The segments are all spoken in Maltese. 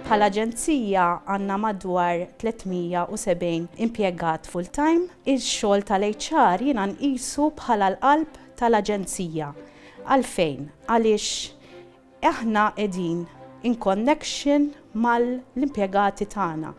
Bħala aġenzija għandna madwar 370 impjegat full-time. Ix-xogħol tal-HR jiena nqisu bħala l-qalb tal-aġenzija. Għalfejn? Għaliex aħna qegħdin in connection mal-impjegati tagħna.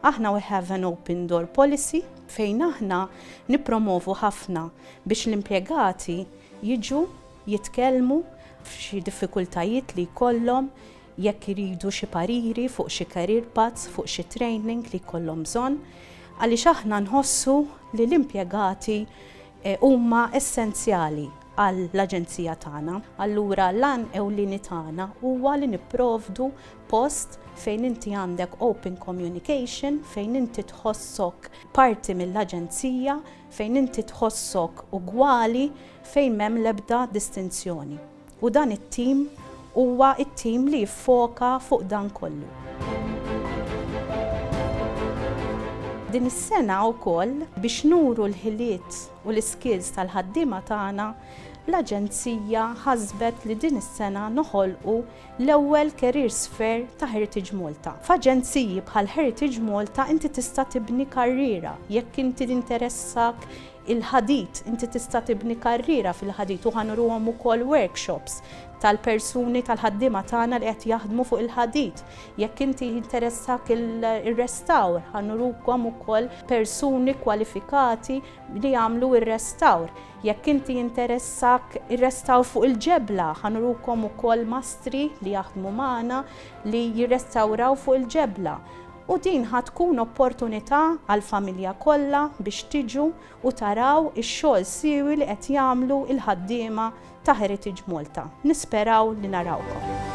Aħna we have an open door policy fejn aħna nippromovu ħafna biex l-impjegati jiġu jitkellmu f'xi diffikultajiet li jkollhom jekk iridu xi pariri fuq xi career paths, fuq xi training li jkollhom bżonn, għaliex aħna nħossu li l-impjegati huma essenzjali għall-Aġenzija tagħna. Allura l-għan ewlieni tagħna huwa li nipprovdu post fejn inti għandek open communication, fejn inti tħossok parti mill-Aġenzija, fejn inti tħossok ugwali fejn m'hemm l-ebda distinzjoni. U dan it-tim huwa t-tim li jiffoka fuq dan kollu. Din is-sena wkoll biex nuru l-ħiliet u l-iskills tal-ħaddiema tagħna, l-Aġenzija ħasbet li din is-sena noħolqu l-ewwel careers fair ta' Heritage Malta. F'aġenziji bħal Heritage Malta inti tista' tibni karriera. Jekk inti jinteressak il-ħadid, inti tista' tibni karriera fil-ħadid u ħa nuruhom ukoll workshops tal-persuni tal-ħaddiema tagħna li qed jaħdmu fuq il-ħadid. Jekk inti jinteressak ir-restawr, ħa nurukom ukoll persuni kwalifikati li jagħmlu r-restawr. Jekk inti jinteressak ir-restawr fuq il-ġebla, ħa nurukom ukoll mastri li jaħdmu magħna li jirrestawraw fuq il-ġebla. U din ħa tkun opportunità għall-familja kollha biex tiġu u taraw ix-xogħol siewi li qed jagħmlu l-ħaddiema ta' Heritage Malta. Nisperaw li narawkom.